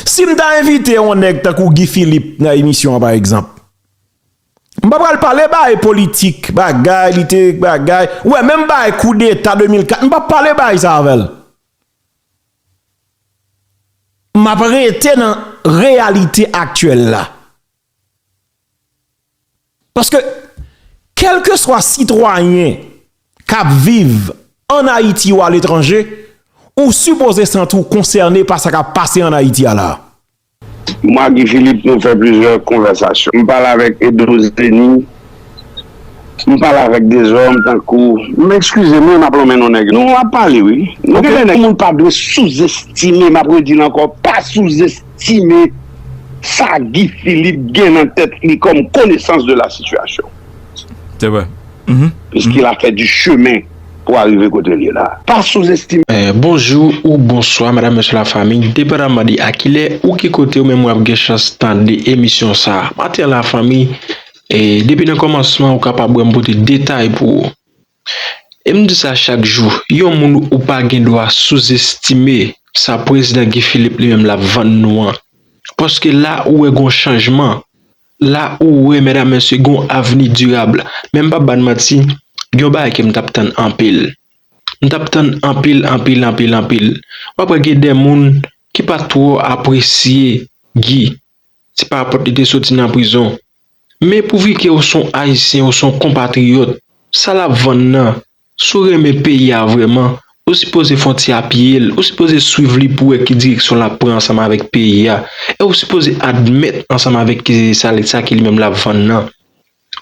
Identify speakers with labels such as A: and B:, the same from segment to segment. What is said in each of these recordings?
A: Si m ta envite yon nèg tankou Guy Philippe nan emisyon an pa egzanp, m pa pral pale bagay politik, bagay li te bagay, ou wè menm bagay koudeta 2004 m pap pale bagay sa avè l. M ap rete nan reyalite aktyèl la. Paske kelkeswa sitwayen kap viv an Ayiti ou aletranje, ou sipoze santi w konsène pa sa kap pase an Ayiti a la. Mwa
B: Guy Philippe nou fè plizyè konvèsasyon. M pale avèk Edro Zeni, m pale avèk dezòm tankou. M ekskize m wi m ap lonmen non nèg yo. Nou ap pale wi. Gen de nèg moun pa dwe souzestime, m ap redi l ankò, pa souzes. estime sa Guy Philippe gen nan tèt li kòm konesans de la sitiyasyon. Se vre.
A: Piskil a
B: fè di chemen pou arive kote l ye la. Pa sou estime. Bonjou ou
C: bonswa madam mesye la fanmi depandanman de a kilè ou ki kotew menm wap gen chans tande emisyon sa maten an la fanmi depi nan kòmansman ou kapab wèm pote detay pou ou. E m di sa chak jou, yon moun ou pa gen dwa souzestime sa prezidan Guy Philippe li menm l ap vann nou an. Paske la ou wè gon chanjman, la ou wè medam mesye gon avni dirab. Men m p ap ba n manti, gen yon bagay ke m t ap tann anpil. M t ap tann anpil, anpil, anpil, anpil. W ap wè gen de moun ki pa twò apresye Guy. Se pa pòt li te soti nan prizon. Men pou vi ke ou son ayisyen ou son konpatriyòt sa lap vann nan si ou renmen peyi a vrèman ou sipoze fon ti apiyel ou sipoze swiv li pou wè ki direksyon lap pran ansanm avèk peyi a e ou sipoze admèt ansanm avèk ke sa sa ke li menm lap vann nan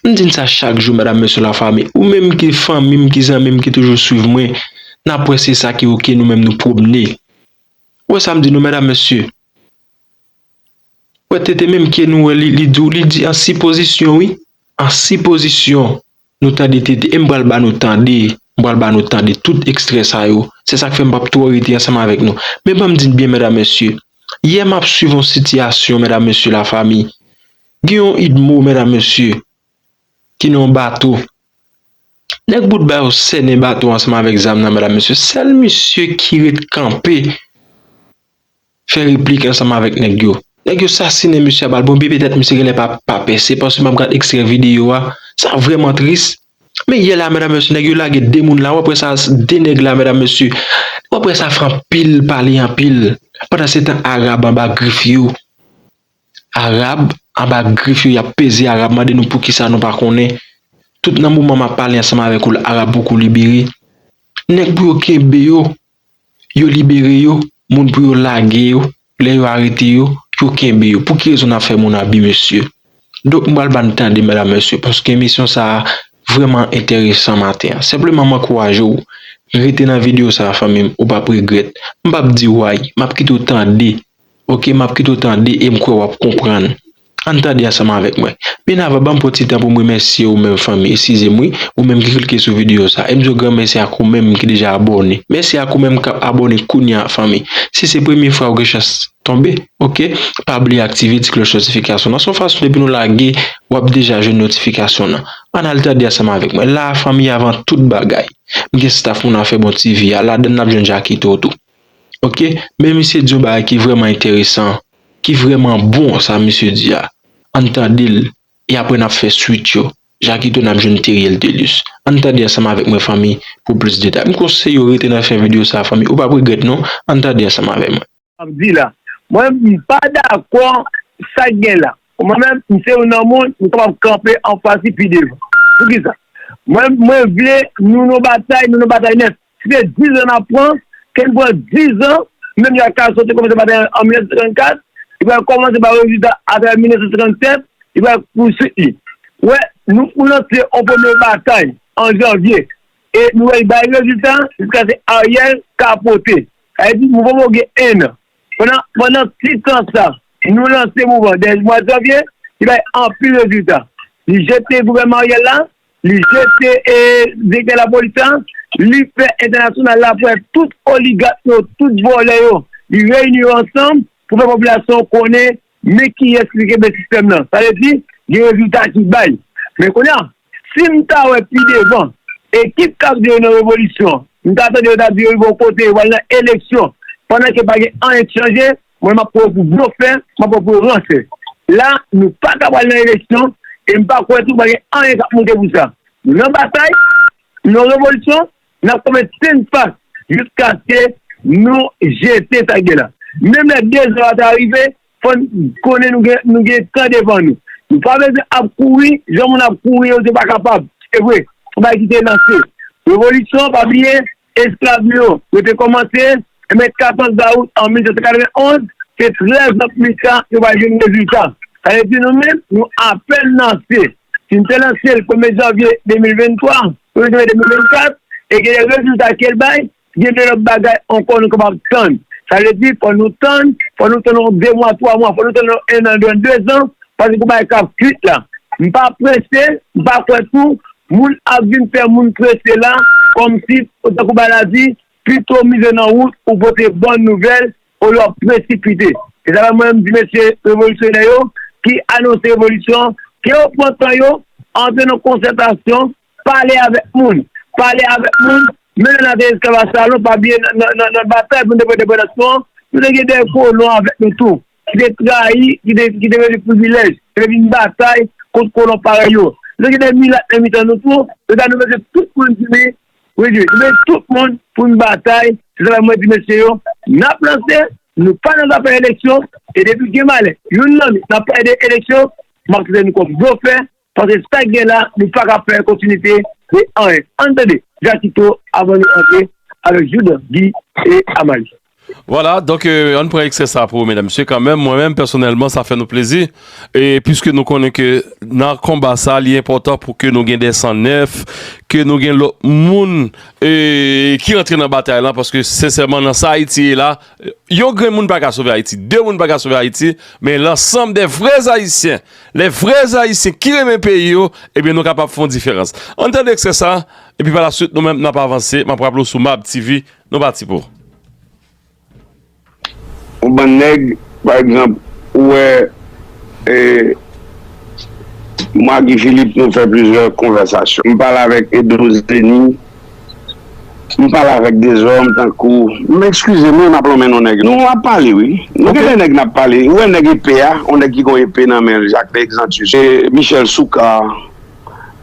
C: m di n sa chak jou medam mesye la fanmi ou menm ki fanmi m ki zanmi m ki toujou swiv mwen nap wè se sa ki ok nou menm nou pwomne ou wè sa m di nou medam mesye. Wè tete menm ke nou wè li li dou li di an sipozisyon wi an sipozisyon nou tande tete em pral ba nou tande m pral ba nou tande tout ekstrè sa yo se sak fè m pap twò rete ansanm avèk nou men banm di n byen medam mesye yè map swiv yon sitiyasyon medam mesye la fami gen yon idmo medam mesye ki nan yon bato nèg bout ba yo sènen bato ansanm avèk zam nan medam mesye sèl misye ki ret kanpe. Fè replik ansanm avèk nèg yo. Nèg yo sasinen mesye a bal bonbe petèt mesye genlè pa pa pèse paske map gad ekstrè video a sa vrèman tris men yè la medam mesye nèg yo lage 2 moun la ou aprè sa 2 nèg la medam mesye ou aprè sa fè anpil pale anpil pandan se tan Arab anba grif yo Arab anba grif yo yap peze Arab mande nou poukisa nou pa konnen tout nan moman map pale ansanm avèk ou la Arab poko libere nèg pou yo kenbe yo. Yo libere yo, moun pou yo lage yo, lè yo arete yo, yo kenbe yo. Pou ki rezon nap fè moun abi mesye? Donk m pral ba n tande medam mesye paske emisyon sa vrèman enteresan maten an. Senpleman m ankouraje w rete nan video sa fanmi m ou pap regrèt. M pap di w ay, map kite w tande Ok map kite w tande e m kwè wap konprann. Ann tande ansanm avèk mwen. Byen avan banm pran ti tan pou m remèsye ou menm fanmi eskize m wi ou menm ki klike sou videyo sa e m di w gran mèsi ak ou menm ki deja abòne. Mèsi ak ou menm kap abòne kounya fanmi. Si se premye fwa ou gen chans tonbe ok pa bliye aktive ti klòch notifikasyon lan se yon fason depi nou lage wap deja jwenn notifikasyon lan. Ann al tande ansanm avèk mwen la fanmi avan tout bagay m gen staf moun afè bon TV a ladann nap jwenn Jakito tou. Ok men misye di yon bagay ki vrèman enteresan ki vrèman bon sa misye di a ann tande l e aprè nap fè swit yo jakito nap jwenn Teriel Thelus ann tande ansanm avèk mwen fanmi pou plis detay m konseye w rete nan fen videyo sa fanmi ou pap regrèt non ann tande ansanm avè mwen. Wap di la
D: mwen m pa dakò sak gen la pou mwen menm m se youn nan moun m kapab kanpe anfas li pi devan poukisa mwen mwen vle nou nan batay nou nan batay nèt Si se dizan n ap pran, ke n pran dizan, menm jan Castro te kòmanse batay an 1954, li pral kòmanse ba rezilta atravè 1957, li pral pouswit li. Ou wè, nou lanse yon premye batay an janvye e nou wè li bay rezilta jiska se Ariel kapote. Sa vle di mouvman mou gen ennan. Pandan pandan ti tan sa, nou lanse mouvman dè mwa janvye, li bay anpil rezilta. Li jete gouvènman Ariel la. Li jete direktè lapolis la, li fè entènasyonal la pran tout oligat yo, tout vòlè yo, li reyini yo ansanm pou fè popilasyon an konnen men kiyès li kenbe sistèm nan. Sa vle di, gen rezilta ki bay. Men kounye a, si m ta wè pi devan, ekip k ap di yo nan revolisyon, m ta tande yo t ap di yo rive yon kote, yo pral nan eleksyon, pandan ke pa gen anyen k chanje, Mwen map pran w pou blofè, map pran w pou yon ransè. La nou pa ka pral nan eleksyon e m pa kwè tou pa gen anyen kap moute pou sa. Nan batay, nan revolisyon, nap kanpe tenn pa jiskaske nou jete sa ki gen la. Menm lè dezò a ta rive, fò n konnen nou gen tan devan nou. Nou pa bezwen ap kouri jan moun ap kouri yo se pa kapab. Se vre, fò bagay kite lanse. Revolisyon, pa bliye, Esklav nou yo rete kòmante, enben 14 dawout an 1791, se 13 an pita yo va jwenn rezilta. Sa vle di nou menm, nou apèn lanse. Si nou te lanse l premye janvye 2023, premye janvye 2024, e gen de rezilta ke l bay, gen de lòt bagay ankò nou kapab tann. Sa vle di fò nou tann, fò nou tann yon 2 mwa, 3 mwa, fò nou tann yon 1 an, 2 an, 2 zan, paske bagay kap kwit la. M pa prese, m pa kwè tou Moun ap vin fè moun prese la, kòmsi, tankou Bal la di, pito mize nan wout ou pote bòn nouvèl olye w ap presipite. Se sa fè mwen menm di mesye revolisyonè yo ki anonse revolisyon an, ke yo pran tan yo, antre nan konsètasyon, pale avèk moun. Pale avèk moun, menm lè n ate esklav a Salon, pa bliye nan batay pou nou te pran endepandans nou an, nou te gen dè kolon avèk nou tou. ki te trayi, ki te ki te rele privilèj, ki te vin batay kont kolon parèy yo. Nou gen de milat nan mitan nou tou, se sa nou mande tout moun di wi, wi di, nou mande tout moun pou n batay, se travay mwen di mesye yo, n ap lanse, nou pa nan zafè eleksyon, e depi gen malè, youn nan nou, n ap pale de eleksyon, m ap trete nou kòm blofè, Pase sa k gen la nou pa ka fè kontinite de anyen. Ann tande Jakito avan nou antre avèk Joudan, Gi e Amalie. Vwala, donk
E: ann pran ekstrè sa pou medam mesye kanmenm, mwen menm pèsonèlman sa fè nou plezi e piske nou konnen ke nan konba sa li enpòtan pou ke nou gen de san nèf, ke nou gen lòt moun ki rantre nan batay lan paske sensèman nan sa Ayiti ye la, Yon grenn moun pa ka sove Ayiti, de moun pa ka sove Ayiti, men lansanm de vrè Ayisyen, lè vrè Ayisyen ki renmen peyi yo, ebyen nou kapab fè yon diferans. An n tande ekstrè sa a, epi pa la swit nou menm n ap avanse, m ap raple w sou Mab TV, nou pati pou. Yon
B: bann nèg, pa egzanp, ou wè, e, mwen ak Guy Philippe nou fè plizyè konvèsasyon. M pale avèk Edouce Denis. M pale avèk dezòm tankou m ekskize m wi m ap lonmen non nèg nou ap pale wi nou gen de nèg n ap pale ou wè nèg epe a yon nèg ki gon epe nan men l Jacques de Exantus e Michel Soukar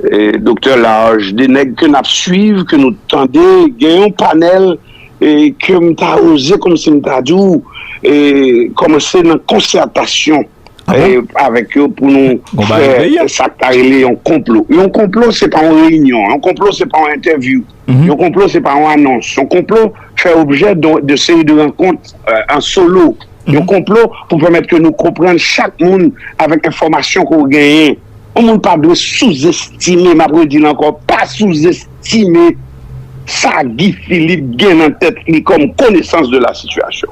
B: e Doktè Large de nèg ke n ap swiv ke nou tande gen yon panèl e ke m ta oze kòmsi m ta di w e kòmanse nan konsyètasyon. avèk yo pou nou fè sa k ta rele yon konplo. Yon konplo se pa yon reyinyon, yon konplo se pa yon entèvyou, yon konplo se pa yon anons, yon konplo fè objè de seri de rankont an solo, yon konplo pou pèmèt ke nou konprann chak moun avèk enfòmasyon ke w genyen. Yon moun pa dwe souzestime, m ap redi l ankò, pa souzestime sa Guy Philippe gen nan tèt li kòm konesans de la sitiyasyon.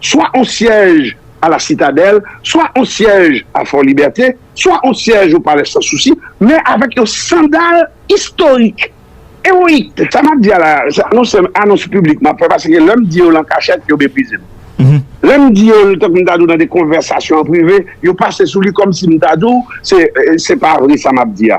B: swa on syèj a la Sitadèl, swa on syèj a Fò Libète, swa on syèj o Palè San Sousi, men avèk yon sandal istorik, ewoyik. Sa m ap di a la, se anons piblik m ap fè paske lè m di yo lan kachèt, yo meprize m. Lè m di yo tankou m ta di w nan de konvèsasyon an prive, yo pase sou li kòmsi m ta di w se pa vre sa m ap di a.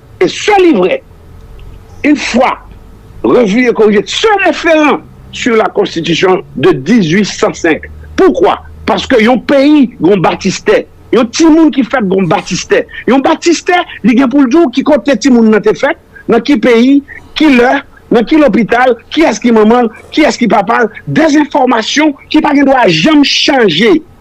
B: E sè li vrè, une fwa revu et corrigé, se referan sur la Constitution de 1805. Poukwa? Paske yon peyi gon batistè, yon timoun ki fèt gon batistè. Yon batistè, li gen pou l di w ki kote timoun nan te fèt, nan ki peyi, ki lè, nan ki lopital, kiyès ki manman l, kiyès ki papa l, dèzinfòmasyon ki pa gen dwa janm chanje.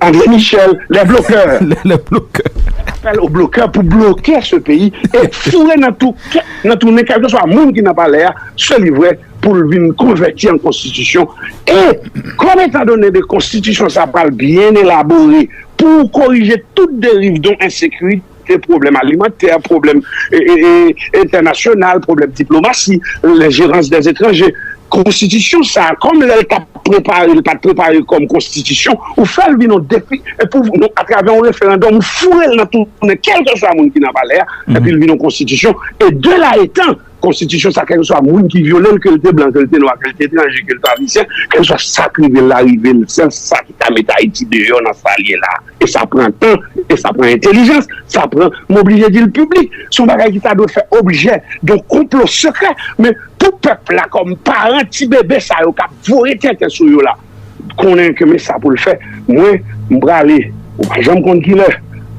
B: Andre Michel, les bloqueurs. Les bloqueurs.
F: Apèl o blokè
B: pou bloke se peyi e foure nan tou kè, nan tou nen kèlke swa moun ki nan palè a, se li vre, pou l vin konvèti an konstitisyon. E, kòm etan done de konstitisyon sa pral byen elabore pou korije tout deriv don ensekirite, Gen pwoblèm alimantè, pwoblèm entènasyonal, pwoblèm diplomasi, lejirans dè etranje. Konstitisyon sa a, kòm lè l t ap prepare, li pa t prepare kòm konstitisyon, ou fè l vin yon defi, atravè yon referandòm, ou foure l nan tou, kèlkeswa moun ki nan palè a, epi l vin yon konstitisyon. E de la etan, Konstitisyon sa kèlkeswa moun ki vyole l, ke l te blan, ke l te nwa, ke l te etranje, ke l te ayisyen, kèlkeswa sa k rive l la, rive l sèl, se sa ki ka mete Ayiti deyò nan sa l ye la a. E sa pran tan, e sa pran entelijans, sa pran, m oblije di l piblik, se yon bagay ki ta dwe fè objè yon konplo sekrè, men pou pèp la kòm paran ti bebe sa yo k ap vore tenten sou yo la, konnen ke men sa pou l fè, mwen, m prale, ou pa janm konn kilè,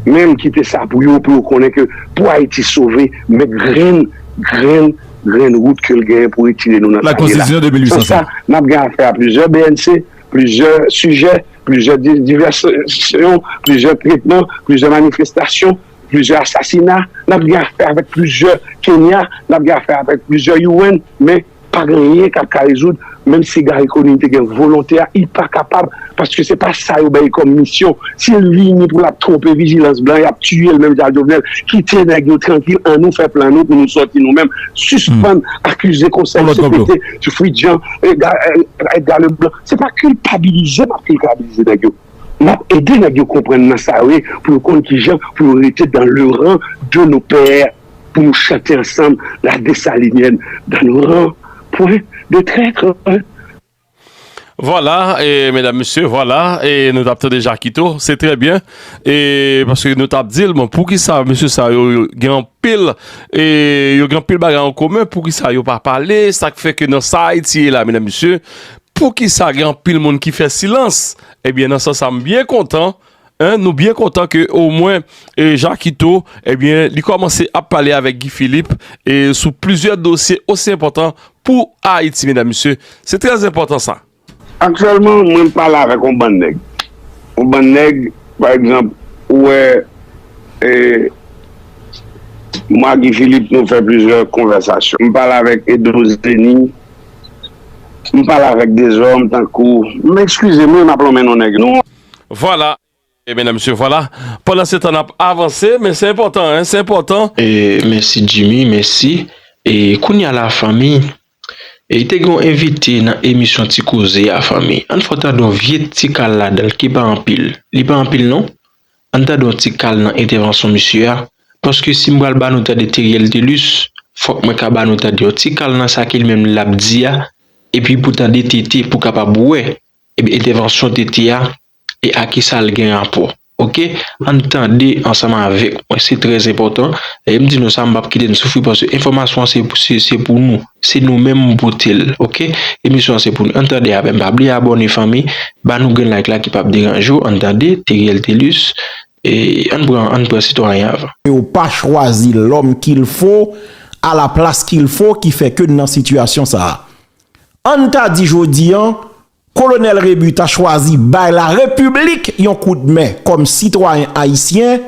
B: men m kite sa pou yo, pou yo konnen ke pou Ayiti sove, men grenn, grenn, grenn wout ke l genyen pou retire nou nan sa nou ye la. San
F: sa, n ap gen afè
B: a plizyè bnc, plizyè sijè, plizyè divèsyon, plizyè tretman, plizyè manifestasyon, plizyè asasina, n ap gen afè avèk plizyè Kenya, n ap gen afè avèk plizyè UN, men. Pa gen anyen kap ka rezoud menm si Garry Conille te gen volonte a li pa kapab paske se pa sa yo bay kòm misyon si l vini pou l ap twonpe vijilans blan y ap tiye l menm jan ak Jovenel kite nèg yo trankil an nou fè plan nou pou nou sòti nou menm sispann akize konsèy cpt sou Fritz Jean Edgar Leblanc se pa kilpabilize m ap kilpabilize nèg yo m ap ede nèg yo konprann nan sa yo ye pou yo konn kijan pou yo rete dan le ran de nos pères. Pou nou chante ansanm la Desalinyèn dan nou ran pwen de trètr. Vwala
E: e medam mesye vwala e nou tap tande jakito se trè byen e paske nou tap dil bon poukisa mesye sa yo gen anpil e yo gen anpil bagay an komen poukisa yo pa pale sak fè ke nan sa ayiti ye la medam mesye poukisa gen anpil moun ki fè silans ebyen nan sans sa m byen kontan 1 nou byen kontan ke o mwen Jakito ebyen li kòmanse ap pale avèk Guy Philippe e sou plizyè dosye osi enpòtan pou Ayiti medam mesye se trè enpòtan sa. Aktyèlman
B: mwen pale avèk on bann nèg on bann nèg pa egzanp ou wè e mwen ak Guy Philippe nou fè plizyè konvèsasyon m pale avèk Eddo Zeni m pale avèk Dezòm tankou m ekskize mwen m ap lonmen non nèg yo. Vwala
E: e medan mesye vwala pandan se tan nap avanse men se enpòtan se enpòtan. Mèsi
C: Jimmy mèsi e kounya la fanmi e te gen yon envite nan emisyon ti koze a fanmi ann fè w tande yon vye ti kal ladan l ki pa anpil li pa anpil non ann tande yon ti kal nan entèvansyon misye a paske si m pral ba nou tande Theriel Thelus fòk mwen ka ba nou tande yon ti kal nan sa ke li menm lap di a epi pou tande tete pou kapab wè Ebyen entèvansyon TT a e a kisa l gen rapò ok ann tande ansanm avèk mwen se trè enpòtan lè m di nou sa m pap kite n soufri paske enfòmasyon an se pou nou se nou menm m pote l ok emisyon an se pou nou ann tande avè m pa bliye abòne fanmi ba nou grenn like la ki pap deranje w ann tande Teriel Thelus ann pran ann pran sitwayen avan. Yo pa chwazi
A: lòm kilfo a la plas kilfo ki fè ke n nan sitiyasyon sa a. An n ta di jodi an, Kolonèl Rebu ta chwazi bay la Repiblik yon kout men kòm sitwayen ayisyen,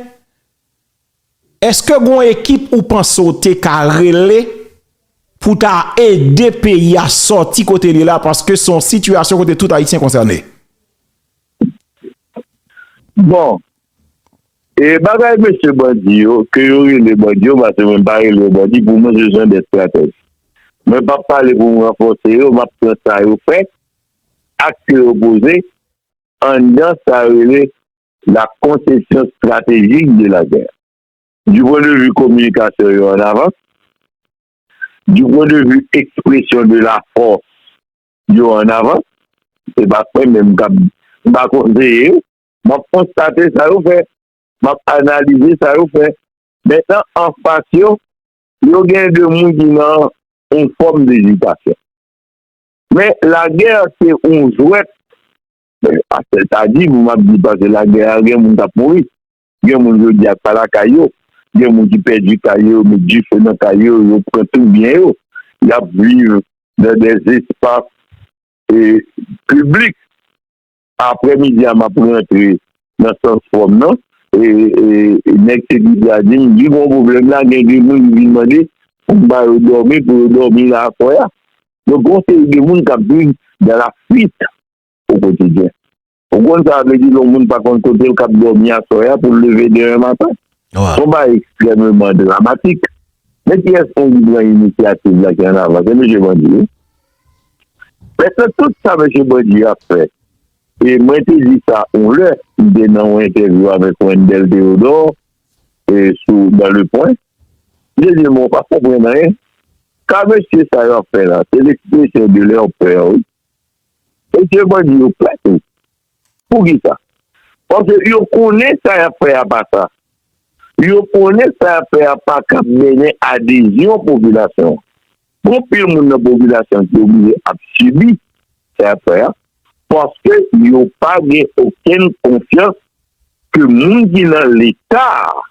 A: èske gon ekip ou panse w te ka rele pou ta ede peyi a sòti kote li la paske se yon sitiyasyon kote tout ayisyen konsène?
G: Bon, E bagay mesye bandi yo, ke yo rele bandi yo, pase mwen pa rele yo bandi, pou mwen se jan de estratèj. Mwen pa p pale pou m ranfòse yo, m ap pran sa yo fè, akte yo poze, anndan sa yo rele la konsepsyon estratejik de la gè. Du pwen de vi kominikasyon yo an avans, du pwen de vi ekspresyon de la fòs yo an avans, se pa mwen menm k ap, m pa konseye yo. M ap konstate sa yo fè. M ap analize sa yo fè. Mentan anfas yo, yo gen de moun ki nan yon fòm dezitasyon. Men lagè se yon jwèt. Pasè ta di, m ap di pasè lagè a gen moun k ap mouri. Gen moun jodi a k pa lakay yo. Gen moun ki pèdi kay yo, yo met dife nan kay yo, yo pran tout byen yo. Y ap viv nan de espas piblik. Aprè midi a map rantre nan sans fòm nan e nèg sekirite a di m, di gon pwoblèm la gen de moun ki vin mande pou m ba yo dòmi pou yo dòmi la aswè a. Donk gon seri de moun kap viv dans la fuite au quotidien. Ou konn sa vle di lè yon moun pa konn kote l kap dòmi aswè a pou l leve demen maten. Son bagay ekstrèmeman dramatik. Men kiyès moun ki pran inisyativ la ki an avan? Se mesye bandi wi. Mètnan tout sa mesye Bandi ap fè e mwen te di sa yon lè, m te nan yon entèvyou avèk Wendell Theodore e sou dans le point, m te di l mwen pa konprann anyen, sa mesye sa yo ap fè la se l'expression de leur peur wi, mesye Bandi yo pè tou, poukisa? Paske yo konnen sa yap fè a pa sa, yo konnen sa yap fè a pa kap mennen adezyon popilasyon an. Pou anpil moun nan popilasyon ki oblije ap sibi sa y ap fè a, paske yo pa gen okenn konfyans ke moun ki nan Leta a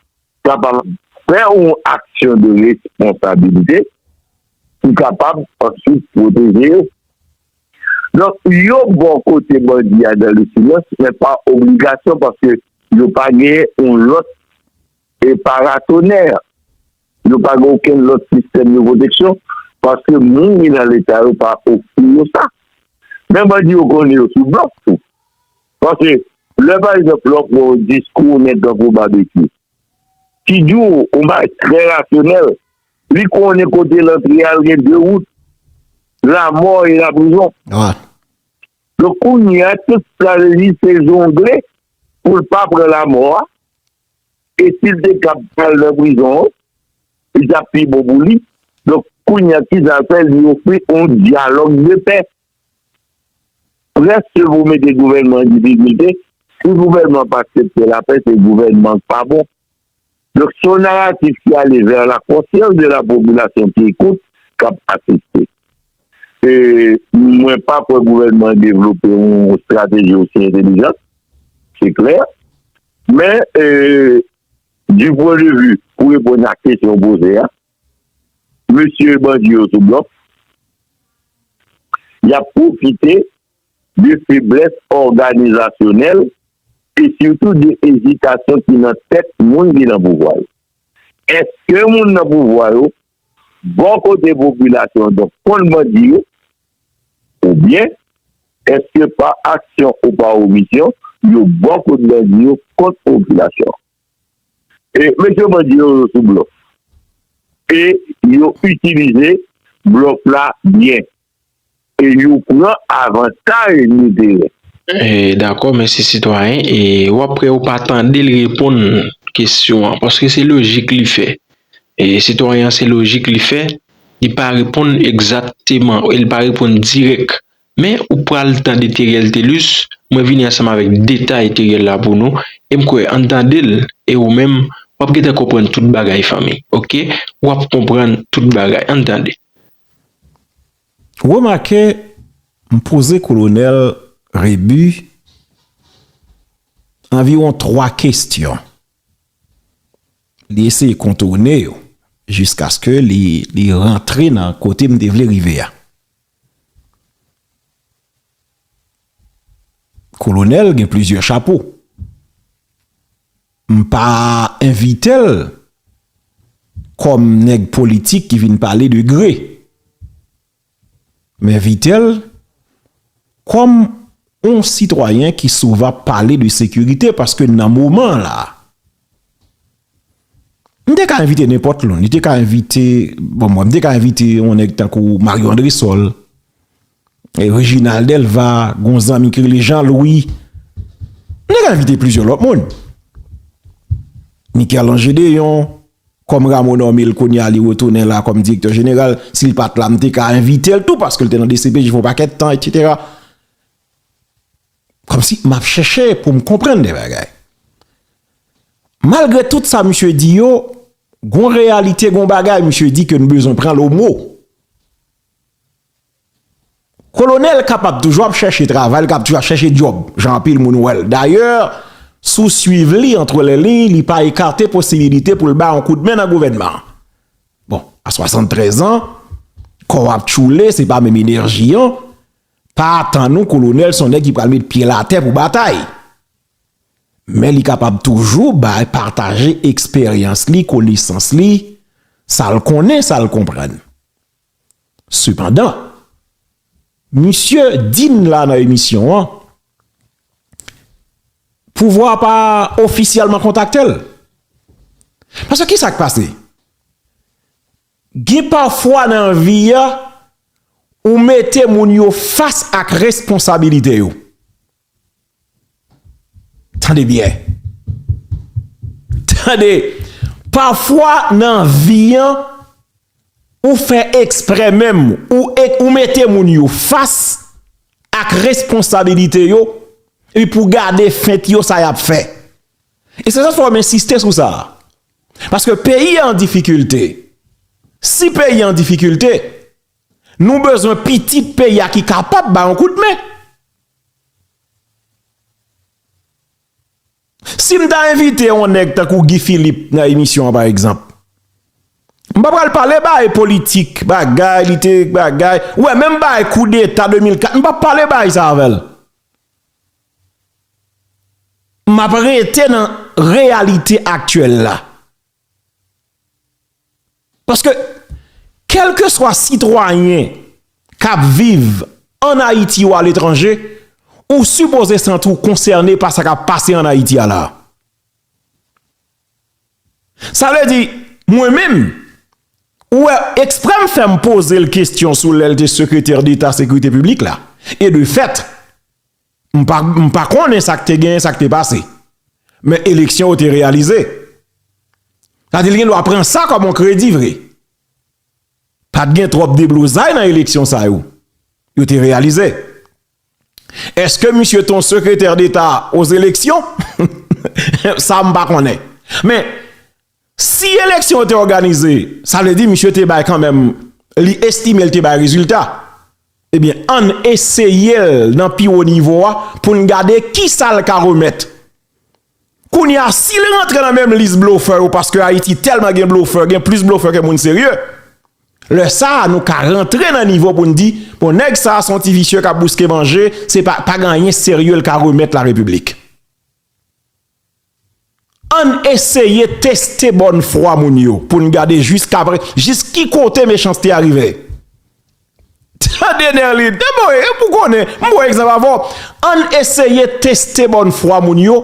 G: kapab fè yon aksyon de responsabilite ki kapab answit pwoteje yo. Donk, yo bò kote bandi a dan le silans, men pa obligasyon paske yo pa gen yon lòt E paratonè! Yo pa gen okenn lòt sistèm de pwoteksyon paske moun ki nan Leta yo pa ofri yo sa. Men bandi yo konnen yo sou blòf tou. Paske lè pa egzanp lè w pran yon diskou yon nèg tankou Babekyou ki di w yon bagay trè rasyonèl, li konnen kote l antre a l gen de wout, lamò e laprizon.
A: Donk
G: kounye a tout sa l di se jongle pou l pa pran lamò a. E sil te kab al nan prizon an li tap pi bon pou li. Donk kounya kisal fè li ofri yon dyalòg de pè. Prèske pou mete gouvènman an difikilte, si gouvènman an pa aksepte lapè se gouvènman an k pa bon. Donk se yon naratif ki ale vè la konsyans de la popilasyon ki ekout, kap asiste. E mwen pa kwè gouvènman an devlope yon strateji osi entelijant, se klè. Men, du pwen de vi pou reponn ak kesyon ou poze a, mesye bandi yo sou blòf, y ap pwofite de feblès òganizasyonèl e sitou de ezitasyon ki nan tèt moun ki nan pouvwa yo. Èske moun nan pouvwa yo Bò kote popilasyon donk konn bandi yo ou byen eske pa aksyon ou pa omisyon yo bò kot bandi yo kont popilasyon e mesye bandi yo yo sou blòf e yo itilize blòf la byen. e yo pran avantaj li genyen. Dakò mèsi
C: sitwayen e wap wè ou pa tandel reponn kesyon an paske se lojik li fè e sitwayen an se lojik li fè li pa reponn egzakteman e li pa reponn dirèk men ou pral tande Theriel Thelus mwen vini ansanm avèk detay Theriel la pou nou e m kwè ann tandel e ou menm wap gentan konprann tout bagay fanmi ok wap konprann tout bagay ann tande.
A: Remake m poze kolonèl Rebu anviwon twa kestyon. Li eseye kontourne yo jiskaske li rantre nan kote m te vle rive a. Kolonèl gen plizyè chapo. M pa envite l kòm nèg politik ki vin pale de gre. M envite l kòm on sitwayen ki souvan pale de sekirite paske nan moman an la a. M te ka envite nenpòt loun. Li te ka envite, bon mwen, m te ka envite on nèg tankou Mario Andresol. Reginald Delva, gon zanmi ki rele Jean Louis. Nou te ka envite plizyè lòt moun. Mikerlan Gedeon, kòm Rameau nome l kounye a li retounen la kòm direktè jeneral, si l pa t la m te ka envite l tou paske l te nan dcpj pou yon pakèt tan etsetera. Kòmsi m ap chèche pou m konprann de bagay. Malgre tout sa misye di yo, gon reyalite, gon bagay misye di ke nou bezwen pran l o mo. Kolonel kapab toujou ap chèche travay, li kapab toujou ap chèche djòb, jan anpil moun wè l. Dayè, si w swiv li antre lè liy, li pa ekate posibilite pou l bay yon kout men nan gouvènman an. Bon, a 73 an, kò w ap tchoule, se pa menm enèji an, pa atann ou kolonel son nèg ki pral met pye l atè pou batay. Men li kapab toujou bay pataje eksperyans li, konesans li, sa l konnen, sa l konprann. Sepandan, misye di n la nan emisyon an, pouvwa a pa ofisyèlman kontakte l. Paske ki sa k pase? Gen pafwa nan vi a, ou mete moun yo fas ak responsabilite yo. Tande byen. Tande. Pafwa nan vi an, ou fè eksprè menm, ou mete moun yo fas ak responsabilite yo, epi pou gade fent yo sa y ap fè. E se sa fè m ensiste sou sa. Paske peyi an difikilte. Si peyi an difikilte. Nou bezwen pitit peyi a ki kapab ba yon kout men. Si m ta envite yon nèg tankou Guy Philippe nan emisyon an pa egzanp, m pa pral pale bay politik, bagay li te bagay, wè menm bay koudeta 2004, m pa pale bay sa avè l. M ap rete nan reyalite aktyèl la. Paske kelkeswa sitwayen kap viv an Ayiti ou aletranje, ou sipoze santi w konsène pa sa kap pase an Ayiti a la. Sa vle di, mwen menm, ou wè ekspre m fè m poze l kestyon sou lè l te sekretè deta sekrite piblik la. E de fèt. M pa konnen sa k te genyen, sa k te pase. Men eleksyon yo te reyalize. Sa di l gen dwa pran sa kòm yon kredi vre. Pa t gen twòp deblozay nan eleksyon sa yo. Yo te reyalize. Eske misye te yon sekretè deta o zeleksyon? Sa m pa konnen. Men. Si eleksyon yo te òganize, sa vle di misye te bay kanmenm, li estime l te bay rezilta. Ebyen, ann eseye l nan pi wo nivo a pou n gade ki sa l ka remèt. Kounye a, si l rantre nan menm lis blofè yo, paske Ayiti tèlman gen blofè, gen plis blofè ke moun serye, lè sa a nou ka rantre nan nivo pou n di, bon nèg sa a se yon ti visye k ap bouske manje, se pa, pa gen anyen serye l ka remèt Larepiblik. Ann eseye teste bòn fwa moun yo pou n gade jis ki kote mechanste a rive. Tande Nerline, e bon e pou konnen, m pran egzanp avè w, ann eseye teste bòn fwa moun yo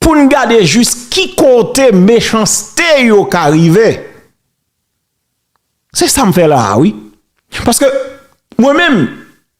A: pou n gade jis ki kote mechanste yo ka rive. Se sa m fè la a wi. Paske mwen menm.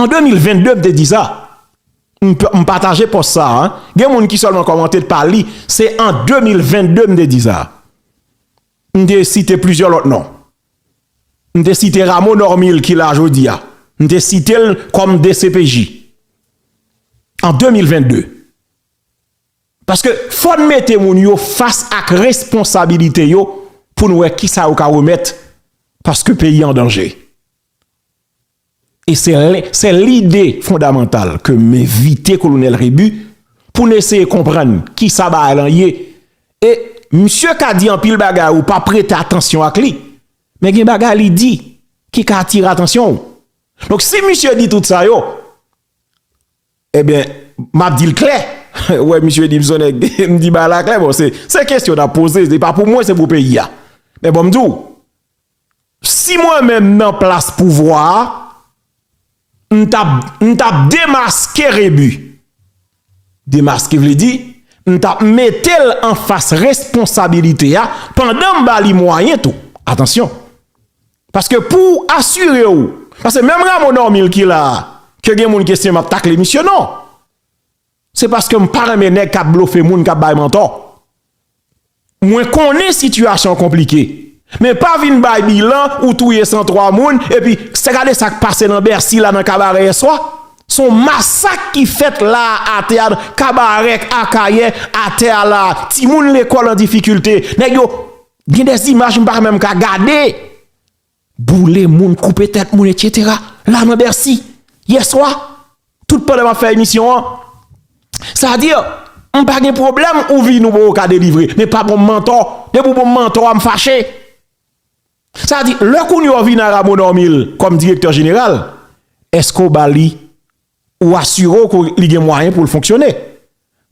A: An 2022 m te di sa, m pataje pòs sa a, gen moun ki sèlman kòmante l pa li, se an 2022 m te di sa. M te site plizyè lòt non. M te site Rameau Normil ki la jodi a. M te site l kòm dcpj. An 2022. Paske fò n mete moun yo fas ak responsabilite yo pou n wè kisa yo ka remèt paske peyi an danje. E se lè, se lide fondamantal ke m envite Kolonèl Rebu pou n eseye konprann ki sa bagay lan ye. E misye ka di anpil bagay ou pa prete atansyon ak li, men gen bagay li di ki ka atire atansyon ou. Donk si misye di tout sa yo, eben, m ap di l klè, ou wè misye di m son nèg, m di bagay la klè, bon se, se kesyon n ap poze, se pa pou mwen, se pou peyi a. Men bon m di w, Si mwen menm nan plas pouvwa a, m tap m tap demaske Rebu. Demaske vle di, m tap mete l anfas responsabilite a pandan m ba li mwayen tou. Atansyon! Paske pou w asire w, paske menm Rameau Normil ki la a, ke gen moun ki estime m ap takle misye, non! Se paske m pa renmen nèg kap blofe moun kap bay mantò. Mwen konnen sitiyasyon an konplike men pa vin bay bilan ou touye 103 moun epi se gade sak pase nan Bercy la nan Kabarè yèswa son masak ki fèt la a teatr Kabarè Akayè atè a la a timoun lekòl an difikilte nèg yo gen des imaj m pa menm ka gade. boule moun, koupe tèt moun etc. La nan Bercy, yè swa, tout pandan map fè emisyon an, sa a dire, m pa gen pwoblèm ou vini ou poko ka delivre, men pa bonm mantò, depi ou bonm mantò a m fache. Sa a di, lè kounye a w vini a Rameau Normil kòm direktè jeneral, èske ou ba li, ou asire w ke li gen mwayen pou l fonksyone?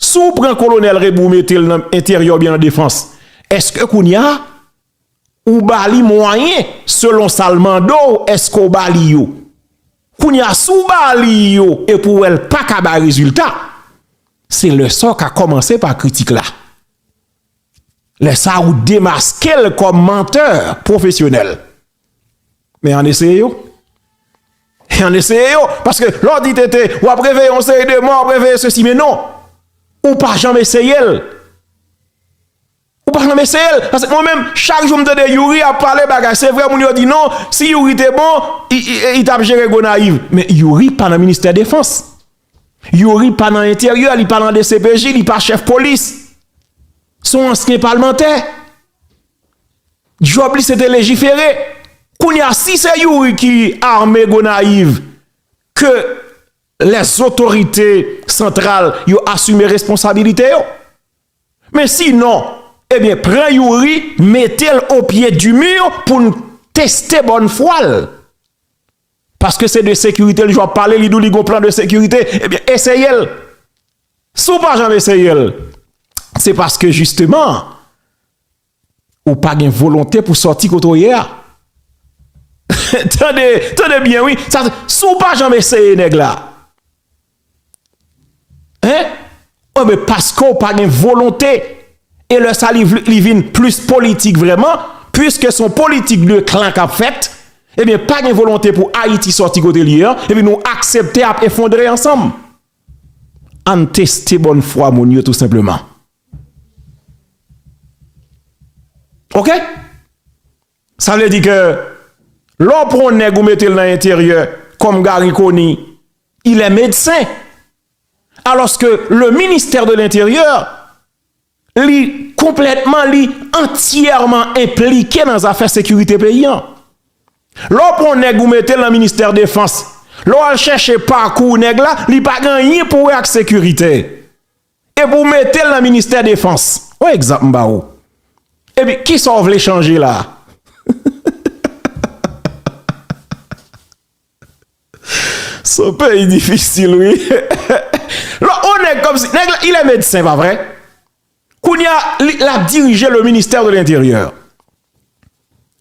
A: Si w pran kolonèl Rebu w mete l nan enteryè oubyen nan defans, èske kounye a, Ou ba li mwayen selon sa l mande w èske ou ba li yo? Kounye a si w ba li yo epi ou wè l pa ka bay rezilta, se lè sa w ka kòmanse pa kritik la. Lè sa a ou demaske l kòm mantè pwofesyonèl. Men ann eseye yo. Ann eseye yo. Paske lè w di tete w ap reveye yon seri de mò, w ap reveye sesi men non. Ou pa janm eseye l. Ou pa janm eseyel pask mwen menm chak jou m tande youri ap pale bagay se vre moun yo di non si youri te bon li tap jere gonayiv men youri pa nan ministè defans youri pa nan enteryè li pa nan dcpj li pa chèf polis son ansyen palmantè job li se te lejifere kounye a si se youri ki arme gonayiv ke lè zotorite santral yo asime responsabilite yo. Men si non, ebyen pran Youri mete l o pye di mur pou n teste bòn fwa l. Paske se de sekirite l jou ap pale, li di w li gon plan de sekirite, ebyen eseye l. Si w pa janm eseye l, se paske jisteman. Ou pa gen volonte pou sòti kote w ye a. Tande, tande byen wi, sa se si w pa janm eseye nèg la. Hein? Ou men paske w pa gen volonte e lè sa li vle li vin plis politik vrèman, puiske son politik de klan k ap fèt, ebyen pa gen volonte pou Ayiti sòti kote l ye an, epi nou aksepte ap efondre ansanm. Ann teste bòn fwa moun yo tou senpleman. Ok Sa vle di ke Lè w pran yon nèg ou mete l nan enteryè Kòm Garry Conille Il est médecin Alòske le ministère de l'intérieur Li konplètman li Antyèman enplike nan zafè sekirite peyi an Lè w pran yon nèg ou mete l nan ministère defans Lè w al chèche pakou nèg la Li pa gen anyen pou wè ak sekirite Epi w mete l nan ministè defans. On egzanp m ba ou. Epi kisa w vle chanje la? Se yon peyi difisil wi. Lò on nèg kòmsi, nèg la il est médecin pa vre? Kounye a l ap dirije le ministère de l'intérieur.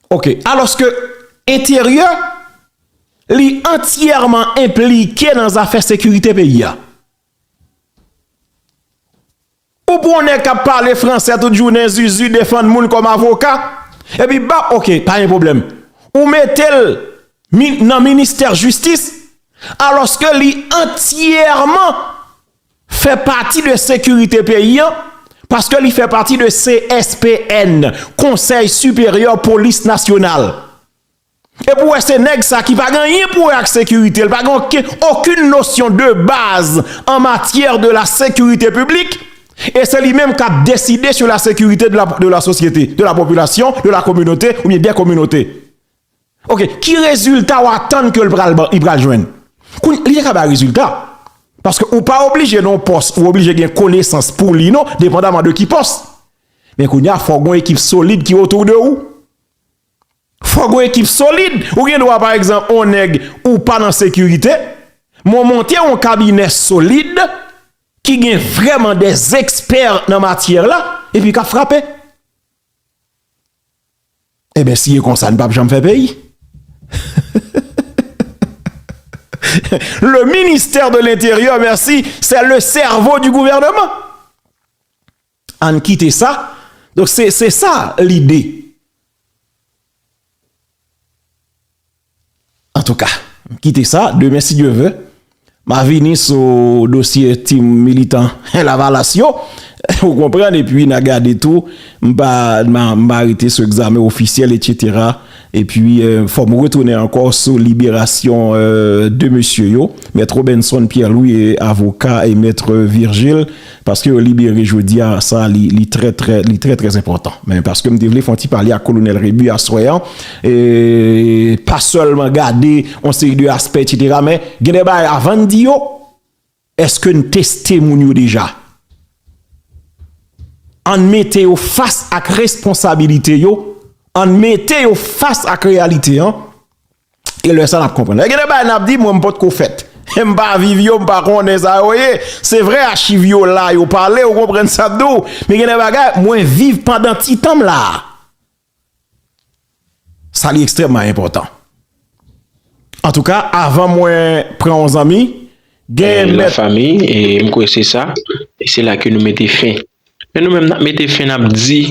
A: Ok, alòske enteryè li antyèman enplike nan zafè sekirite peyi a. Ou pran yon nèg kap pale fransè tout jounen zuzu defann moun kòm avoka epi bap ok pa gen pwoblèm ou metel nan ministè jistis alòske li antyèman fè pati de sekirite peyi an paske li fè pati de CSPN konsèy siperyè polis nasyonal Epi ou wè se nèg sa ki pa gen anyen pou wè ak sekirite, li pa gen okenn nosyon de baz an matyè de la sekirite piblik, e se li menm k ap deside sou la sekirite de la sosyete, de la popilasyon, de la kominote oubyen dè kominote. Ok, ki rezilta ou atann ke li pral jwenn? Li te ka bay rezilta, paske ou pa oblije nan yon pòs, ou oblije gen konesans pou li non, depandaman de ki pòs. Men kounye a fò gen yon ekip solid ki otou de ou. Fòk yon ekip solid, ou gen dwa pa egzanp yon nèg ou pa nan sekirite, men w monte yon kabinè solid ki gen vrèman dè ekspè nan matyè la epi k ap frape. Enben si e konsa n p ap janm fè peyi. Le ministère de l'interieur, merci, c'est le cerveau du gouvernement. Ann kite sa, donk se se sa lide. Antouka, kite sa, demen si Dye ve, ma vini sou dosye ti militan lavalas yo, ou konprann, epi na gade tou, m pa rete sou egzamen ofisyèl, etsetera. E pwi fò m retounen ankò sou liberasyon 2 mesye yo, Mèt Robinson Pierre Louis e avoka e Mèt Virgile, paske yo libere jodi a, sa li trè trè, li trè trè enpòtan. Men paske m te vle fè yon ti pale ak Kolonèl Rebu aswè an, e pa sèlman gade yon seri de aspè etsetera, men gen de bagay avan n di yo, Eske n teste moun yo deja? Ann mete yo fas ak responsabilite yo, ann mete yo fas ak reyalite an, e lè sa n ap konprann. Gen de bagay n ap di, mwen m pot ko fèt, m pa viv yo, m pa konnen sa yo ye. Se vre achiv yo la, yo pale, ou konprann sa m di w, men gen de bagay mwen viv pandan ti tan m la a. Sa li ekstrèmman enpòtan. Antouka, avan mwen pran yon zanmi, gen yon lòt
C: fanmi, e m kwè se sa, e se la ke nou mete fen. Men nou menm n ap mete fen, n ap di,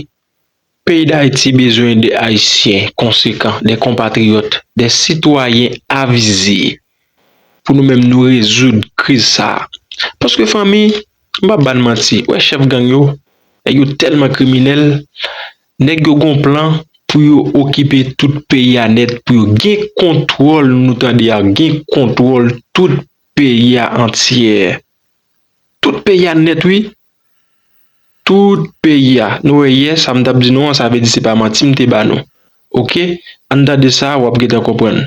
C: peyi Dayiti bezwen de Ayisyen konsekan, de konpatriyòt, de sitwayen avize, pou nou menm nou rezoud kriz sa. Paske fanmi, m pa ban manti, wè chèf gang yo, nèg yo tèlman kriminèl, Nèg yo gon plan pou yo okipe tout peyi a nèt pou yo gen kontwòl nou tande a gen kontwòl tout peyi a antyè tout peyi a nèt wi tout peyi a nou wè yè sa m tap di nou an sa vle di se pa manti m te ba nou ok ann tande sa wap gentan konprann.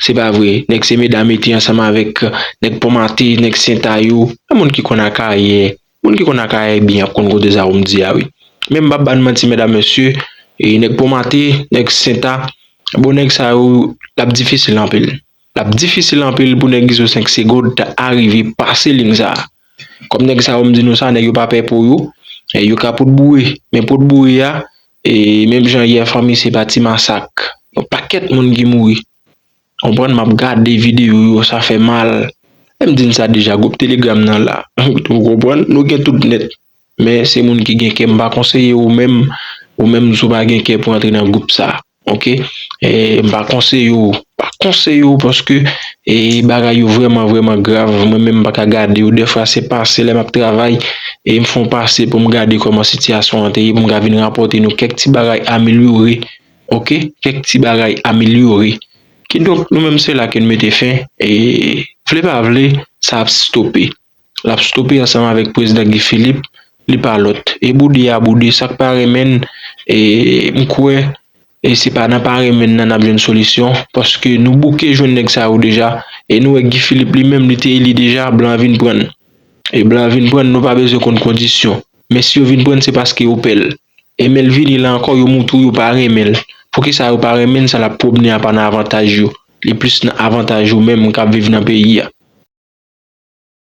C: Se pa vre, nèg se meda mete ansanm avèk nèg pon mate, nèg sentayou, men moun ki konn akayè, moun ki konn akayè byen ap konn kote sa ou m di a wi. Men m pap bann manti medam mesye, nèg pon mate, nèg senta, bon nèg sa yo lap difisil anpil, lap difisil anpil pou nèg izo 5 segond ta arive pase ling sa. Kòm nèg sa yo m di nou sa nèg yo pa pè po yo, yo ka pot boure men pot boure a e menm jan yè fanmi se pa ti masak yon pakèt moun ki mouri konprann map gade video yo sa fè mal, m di n sa deja gwoup telegram nan la ou konprann nou gen tout nèt. Men se moun ki gen kè m pa konseye ou menm ou menm si w pa gen kè pou antre nan gwoup sa ok m pa konseye w pa konseye w paske bagay yo vrèman vrèman grav mwen menm m pa ka gade yo dèfwa se pase lè m ap travay e m fon pase pou m gade kòman sitiyasyon an te ye pou m ka vin rapòte nou kèk ti bagay amelyore ok kèk ti bagay amelyore kidonk nou menm se la ke n mete fen e vle pa vle sa ap stope. lap stope ansanm avèk prezidan Guy Philippe li pa lòt e boude a boude sak pa renmenn m kwè se pa nan pa renmenn nan nap jwenn solisyon paske nou bouke jwenn nèg sa yo deja e nou wè Guy Philippe li menm li te eli deja blan vin prann e blan vin prann nou pa bezwen konn kondisyon men si yo vin prann se paske yo pèl e menl vini la ankò yo moutre w yo pa renmenl poukisa yo pa renmenn sa lap pwobnen a pa nan avantaj yo li plis nan avantaj ou menm kap viv nan peyi a.